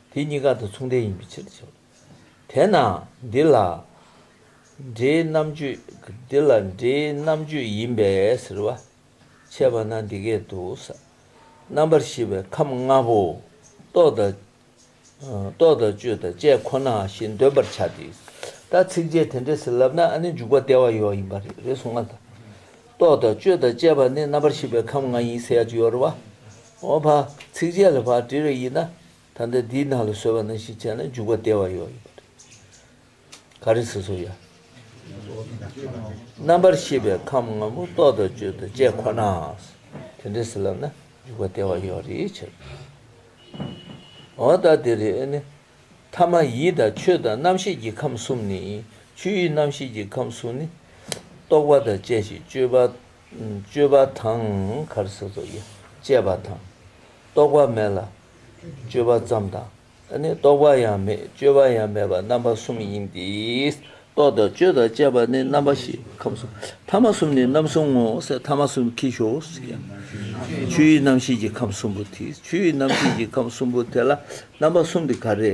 དེ་གཉིས་ཀ་དང་མཚུངས་ལྡན་ཡིན་པའི་ཕྱིར་དུ་བྱ་བ། དེས་ན་འདི་ལ་འབྲེལ་རྣམ་གཅོད། འདི་ལ་འབྲེལ་རྣམ་གཅོད་ཡིན་པས་ཟེར་བ། འཆད་པ་ན་འདི་སྐད་དུ། རྣམ་པར་ཤེས་པའི་ཁམས་ལྔ་པོ། རྟོག་དང་གཅོད་དང་བཅས་ཁོ་ན་བཞིན་འདོད་པར་བྱ་སྟེ། ད་ཚིགས་བཅད་དེ་འདྲས་ཟིན་ལབ་ན་ནི་འཇུག་པ་བདེ་བ་ཡོད་ཡིན་པ་རེད་རེད་གསུང་བ་དང། རྟོག་དང་གཅོད་དང་བཅས་པ་ནི་རྣམ་པར་ཤེས་པའི་ཁམས་ལྔ་ཡིན་ཟེར་ཡ་ཅི་ཡོད་རེད་བ། འོ་བ། ཚིགས་བཅད་ལ་བ་འབྲི་རེ་ཡིན་ན། ད་ལྟ་འདིའི་ནང་ལ་སོལ་བ་ནང་བཞིན་བྱས་ན་འཇུག་པ་བདེ་བ་ཡོད་ཡོད། ག་རེ་ཟེར་སོ་ཡ། རྣམ་པར་ཤེས་པའི་ཁམས་ང་མོ་རྟོག་དང་དཔྱོད་དང་བཅས་ཁོ་ན། དེ་འདྲ་ཟེར་ལབ་ན་འཇུག་པ་བདེ་བ་ཡོད་རེད་ཕྱིར། འོ་ད་དེ་རེ་ནི། ཐ་མ་ཡིད་དང་ཆོས་དང་རྣམ་ཤེས་ཀྱི་ཁམས་གསུམ་ནི། ཆོས་ཡིད་རྣམ་ཤེས་ཀྱི་ཁམས་གསུམ་ནི། རྟོག་པ་དང་བཅས་ཤིང་དཔྱོད་པ་དང། ག་རེ་ཟེར་སོ་ཡ། བཅས་པ་དང། རྟོག་པ་མེད་ལ། སྤྱོད་པ་ཙམ་དང། ད་ནི་རྟོག་པ་ཡང་མེད་སྤྱོད་པ་ཡང་མེད་པ་རྣམ་པ་གསུམ་ཡིན་ཏེ། རྟོག་དང་སྤྱོད་དང་བཅས་པ་ནི་རྣམ་པ་བཞི་ཁམས་གསུམ་ཐ་མ་གསུམ་ནི་རྣམ་གསུམ་ངོ་སེ་ཐ་མ་གསུམ་ཁྱི་ཤོ་སི་ཡང། ཆུ་ཡི་རྣམ་ཤེས་ཀྱི་ཁམས་གསུམ་པོ་དེ་ཆུ་ཡི་རྣམ་ཤེས་ཀྱི་ཁམས་གསུམ་པོ་དེ་ལ་རྣམ་པ་གསུམ་དེ་ག་རེ།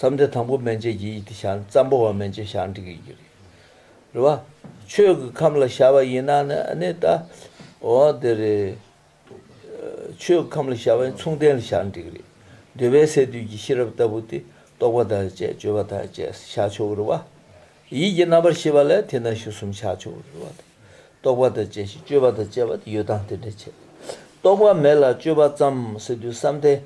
བསམ་གཏན་དང་པོ་མན་ཆད་ཀྱི་ཡིད་དེ་ཤར་ཙམ་པོ་བ་མན་ཆད་ཤར་འགྲིག་ཡོད་ཀྱི་རེད་བ། ཆོས་ཀྱི་ཁམས་ལ་ཤར་བ་ཡིན་ན་ནི་ད་འོ་དེ་རེད། ཆོས་ཀྱི་ཁམས་ལ་ཤར་བ་ཡིན་མཚུངས་ལྡན་ལ་ཤར་འགྲིག་རེད། འདོད་པའི་སས་བསྡུས་ཀྱི་ཤེས་རབ་ལྟ་བུ་དེ་རྟོག་པ་དང་བཅས་དཔྱོད་པ་དང་བཅས་སུ་ཤར་ཆོག་གི་རེད་བ། ཡིད་ཀྱི་རྣམ་པར་ཤེས་པ་ལས་དེ་རྣམས་ཞུ་གསུམ་ཤར་ཆོག་གི་རེད་བ་དང། རྟོག་པ་དང་བཅས་ཤིང་དཔྱོད་པ་དང་བཅས་པ་དེ་ཡོད་དང་དེ་འདྲ་བྱེད། རྟོག་པ་མེད་ལ་དཔྱོད་པ་ཙམ་སེ་བསྡུས་བསམ་གཏན།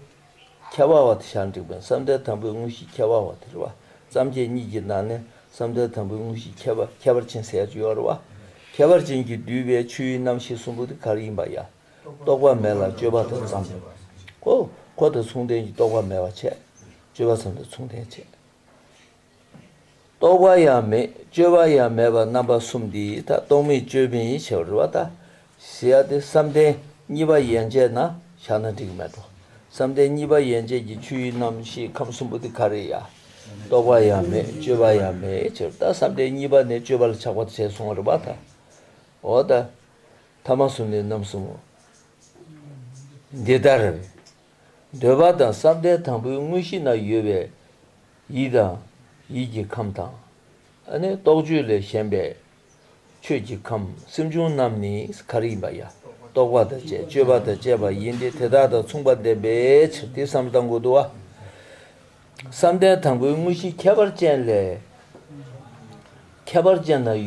ཁྱད་པར་བ་དེ་ཞག་འགྲིག་པའི་བསམ་གཏན་དང་པོའི་དངོས་གཞིའི་ཁྱད་པར་བ་དེར་བ་ཙམ་གྱི་གཉིས་ཀྱི་ནང་ནས་བསམ་གཏན་དང་པོའི་དངོས་གཞིའི་ཁྱད་པར་ཁྱད་པར་ཅན་ཟད་འཇོའི་བ་ཁྱད་པར་ཅན་གྱིས་བསྡུས་པའི་ཆོས་དབྱིངས་རྣམ་ཤེས་གསུམ་པོ་དེ་གར་ཡིན་པ་ཡང་རྟོག་པ་མེད་ལ་སྤྱོད་པ་དང་མཚུངས་ལྡན་གོ། འཁོར་དང་མཚུངས་ལྡན་གྱི་རྟོག་པ་མེད་པ་བྱེད། སྤྱོད་པ་ཙམ་དང་མཚུངས་ལྡན་བྱེད། རྟོག་པ་ཡང་མེད་དཔྱོད་པ་ཡང་མེད་པར་རྣམ་པ་གསུམ་འདི་ཡིས་ཐ་རྟོག་མི་དཔྱོད་མི་ཡི་ཆེ་བ་རུ་བ་ལྟ་ཞེས་ཡ་སྟེ་བསམ་གཏན་གཉིས་པ་ཡན་ཆད་ན་བཞག་ན་འགྲིག་མེད་དོ། བསམ་གཏན་གཉིས་པ་ཡན་ཆད་ཀྱི་ཆོས་དབྱིངས་རྣམ་ཤེས་ཁམས་གསུམ་པོ་དེ་ག་རེ་ཡ། རྟོག་པ་ཡང་མེད་དཔྱོད་པ་ཡང་མེད་ཆེ་བ་ལྟ་བསམ་གཏན་གཉིས་པ་ནས་དཔྱོད་པ་ལ་ཆགས་པ་བྱས་སོང་བ་རུ་བ་ལྟ། འོ་ད། ཐ་མ་གསུམ་ནི་རྣམ་གསུམ་མོ། འདི་ལྟར། འདོད་པ་དང་བསམ་གཏན་དང་པོའི་དངོས་གཞི་ན་ཡོད་པའི་ཡིད་དང། ཡིད་ཀྱི་ཁམས་དང། རྟོག་དཔྱོད་ལས་གཞན་པའི་ཆོས་ཀྱི་ཁམས་སེམས་བྱུང་རྣམས་ནི་གར་ཡིན་པ་ཡང་རྟོག་པ་དང་བཅས་དཔྱོད་པ་དང་བཅས་པ་ཡིན་ཏེ་དེ་དག་དང་མཚུངས་པ་ལྡན་པའི་ཕྱིར་དེ་བསམ་གཏན་གོ་བསྡུ་བ། བསམ་གཏན་དང་པོའི་དངོས་གཞི་ཁྱད་པར་ཅན་ལས། ཁྱད་པར་ཅན་དང་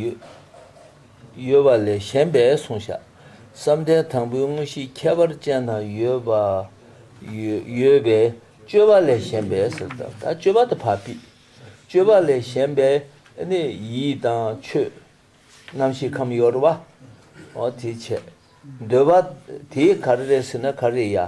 ཡོད་པ་ལས་གཞན་པས་གསུངས་བཞག། བསམ་གཏན་དང་པོའི་དངོས་གཞི་ཁྱད་པར་ཅན་དང་ཡོད་པ། ཡོད་པའི་སྤྱོད་པ་ལས་གཞན་པས་ཟེར་ལྟར་ད་སྤྱོད་པ་དང་བར་དཔེས། སྤྱོད་པ་ལས་གཞན་པས་ནི་ཡིད་དང་ཆོས། རྣམ་ཤེས་ཁམས་གཡོར་བའོ། དེའི་ཕྱེད། འདོད་པ། དེའི་གར་རེ་ཟེར་ན་གར་རེ་ཡ།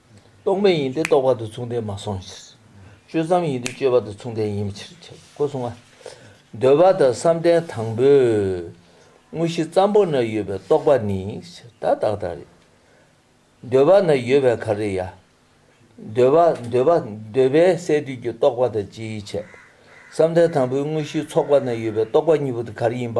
རྟོག་མེད་ཡིན་ཏེ་རྟོག་པ་དང་མཚུངས་ལྡན་མ་སོང་ཕྱིར། སྤྱོད་བསམ་ཡིན་ཏེ་སྤྱོད་པ་དང་མཚུངས་ལྡན་ཡིན་པའི་ཕྱིར་ཁྱབ་བོ་གསུང་ངོ། འདོད་པ་དང་བསམ་གཏན་དང་པོའི། དངོས་གཞི་ཙམ་པོ་ན་ཡོད་པའི་རྟོག་པ་ནི། ད་བདག་དང་རེ། འདོད་པ་ན་ཡོད་པའི་གར་རེ་ཡ། འདོད་པ་འདོད་པ་འདོད་པའི་སས་བསྡུས་ཀྱི་རྟོག་པ་དང་སྤྱིའི་ཆེད། བསམ་གཏན་དང་པོའི་དངོས་གཞིའི་ཚོགས་པ་ན་ཡོད་པའི་རྟོག་པ་གཉིས་པོ་དེ་གར་ཡིན་པ།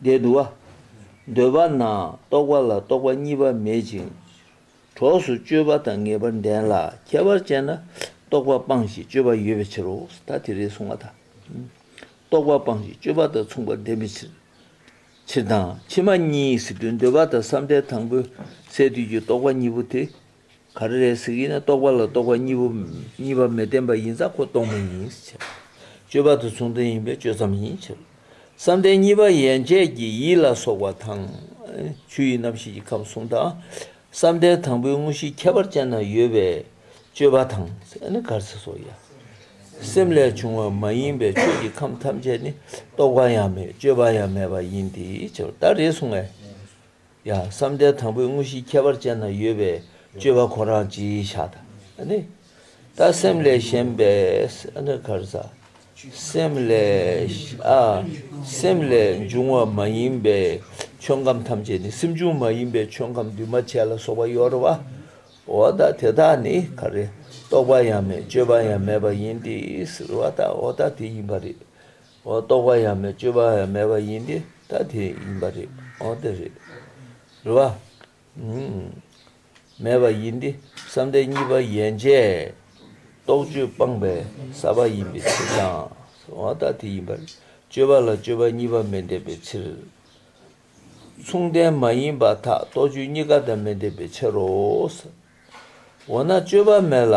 བརྒྱད་དུ་བ། འདོད་པ་ན་རྟོག་པ་ལ་རྟོག་པ་གཉིས་པ་མེད་ཅིང། གྲོགས་སུ་སྤྱོད་པ་དང་ངེས་པར་ལྡན་ལ་ཁྱད་པར་ཅན་ན་རྟོག་པ་སྤངས་ཤིང་སྤྱོད་པ་ཡོད་པའི་ཕྱིར་རོ། ད་དེ་རེས་གསུངས་པ་དང། རྟོག་པ་སྤངས་ཤིང་སྤྱོད་པ་དང་མཚུངས་པར་ལྡན་པའི་ཕྱིར། ཕྱིར་དང་ཕྱི་མ་གཉིས་སུ་དུས་འདོད་པ་དང་བསམ་གཏན་དང་པོའི་སས་བསྡུས་ཀྱི་རྟོག་པ་གཉིས་པོ་དེ་ག་རེ་རེད་ཟེར་གྱི་ན་རྟོག་པ་ལ་རྟོག་པ་གཉིས་པོ་གཉིས་པ་མི་བརྟེན་པ་ཡིན་ཙང་ཁོ་རྟོག་མེད་ཡིན་ཟེར། སྤྱོད་པ་དེ་མཚུངས་ལྡན་ཡིན་པས་སྤྱོད་ཙམ་ཡིན་ཟེར། བསམ་གཏན་གཉིས་པ་ཡན་ཆད་ཀྱི་ཡིད་ལ་སོགས་པ་དང། ཆུ་ཡི་རྣམ་ཤེས་ཀྱི་ཁམས་གསུམ་དང། བསམ་གཏན་དང་པོའི་དངོས་གཞིའི་ཁྱད་པར་ཅན་ན་ཡོད་པས་སྤྱོད་པ་དང། གར་ཟེར་སོགས་ཡང། སེམས་ལས་བྱུང་བ་མ་ཡིན་པའི་ཆོས་ཀྱི་ཁམས་ཐམས་ཅད་ནི་རྟོག་པ་ཡང་མེད་སྤྱོད་པ་ཡང་མེད་པ་ཡིན་ཏེ། ད་རེས་སོང་ངས། ཡང་བསམ་གཏན་དང་པོའི་དངོས་གཞིའི་ཁྱད་པར་ཅན་ན་ཡོད་པའི་སྤྱོད་པ་ཁོ་རང་ཅི་བྱ་ད་ནི། ད་སེམས་ལས་གཞན་པའི་གར་ཟ། སེམས་ལས་སེམས་ལས་འབྱུང་བ་མ་ཡིན་པའི་ཆོས་ཁམས་ཐམས་ཅད་ནི་སེམས་བྱུང་མ་ཡིན་པའི་ཆོས་ཁམས་འདུས་མ་བྱས་ལ་སོགས་པ་ཡོད་རེད་བ། འོ་ད་དེ་དག་ནི་ག་རེ་རྟོག་པ་ཡང་མེད་སྤྱོད་པ་ཡང་མེད་པ་ཡིན་ཏེ་ཟེར་བ་ད་འོ་ད་དེ་ཡིན་པ་རེད། རྟོག་པ་ཡང་མེད་སྤྱོད་པ་ཡང་མེད་པ་ཡིན་ཏེ་ད་དེ་ཡིན་པ་རེད་འོ་དེ་རེད་རེད་བ། མེད་པ་ཡིན་ཏེ་བསམ་གཏན་གཉིས་པ་ཡན་ཆད་རྟོག་དཔྱོད་སྤངས་པའི་ས་པ་ཡིན་པའི་ཕྱིར་དང། འོ་ད་དེ་ཡིན་པ་རེད་སྤྱོད་པ་ལ་སྤྱོད་པ་གཉིས་པ་མི་ལྡན་པའི་ཕྱིར། མཚུངས་ལྡན་མ་ཡིན་པ་དག་རྟོག་དཔྱོད་གཉིས་ཀ་དང་མི་ལྡན་པའི་ཕྱིར་རོ། འོ་ན་སྤྱོད་པ་མེད་ལ།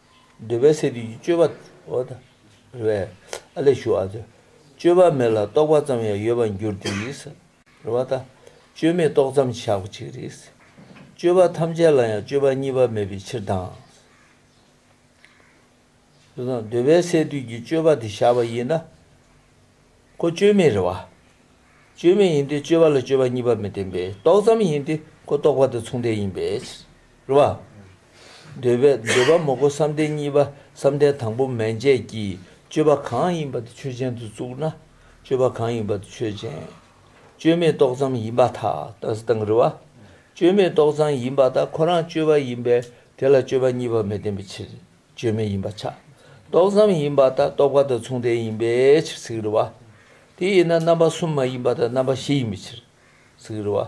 འདོད་པའི་སས་བསྡུས་ཀྱི་སྤྱོད་པ། འོ་ད་རེ་བས་ཨ་ལས་ཞུགས་ཨ། སྤྱོད་པ་མེད་ལ་རྟོག་པ་ཙམ་ཡང་ཡོད་པར་འགྱུར་ཏེ། རེ་བ་ད། སྤྱོད་མེད་རྟོག་ཙམ་ཆགས་པ་ཅིག་རེད། སྤྱོད་པ་ཐམས་ཅད་ལ་ཡང་སྤྱོད་པ་གཉིས་པ་མེད་པའི་ཕྱིར་དང། འདོད་པའི་སས་བསྡུས་ཀྱི་སྤྱོད་པ་དེ་བཞག་པ་ཡིན་ན། ཁོ་བཅོས་མའི་རེད་བ། བཅོས་མའི་ཡིན་དུས་བཅོས་པ་ལ་བཅོས་པ་གཉིས་པ་མི་བསྟན་པས་རྟོགས་ཙམ་ཡིན་དུས་ཁོ་རྟོགས་པ་དང་མཚུངས་ལྡན་ཡིན་པས་ཕྱིར། རེད་བ། འདོད་པས་འདོད་པ་མོ་ཁོ་བསམ་གཏན་གཉིས་པ་བསམ་གཏན་དང་པོ་མན་ཆད་ཀྱིས་བཅོས་པ་གང་ཡིན་པ་དེ་ཆོས་ཅན་དུ་བཙུགས་ན་བཅོས་པ་གང་ཡིན་པ་དེ་ཆོས་ཅན། བཅོས་མའི་རྟོགས་ཙམ་ཡིན་པ་དག་ད་སི་དང་རེད་བ། བཅོས་མའི་རྟོགས་ཙམ་ཡིན་པ་དག་ཁོ་རང་བཅོས་པ་ཡིན་པས་དེ་ལ་བཅོས་པ་གཉིས་པ་མི་བསྟན་པའི་ཕྱིར། བཅོས་མིན་ཡིན་པ་ཆགས་རྟོག་ཙམ་ཡིན་པ་ལྟ་རྟོག་པ་དང་མཚུངས་ལྡན་ཡིན་པའི་ཕྱིར་ཚིག་རེ་བ། དེ་ཡིན་ན་རྣམ་པ་གསུམ་མ་ཡིན་པ་དང་རྣམ་པ་བཞི་ཡིན་པའི་ཕྱིར། ཚིག་རེ་བ།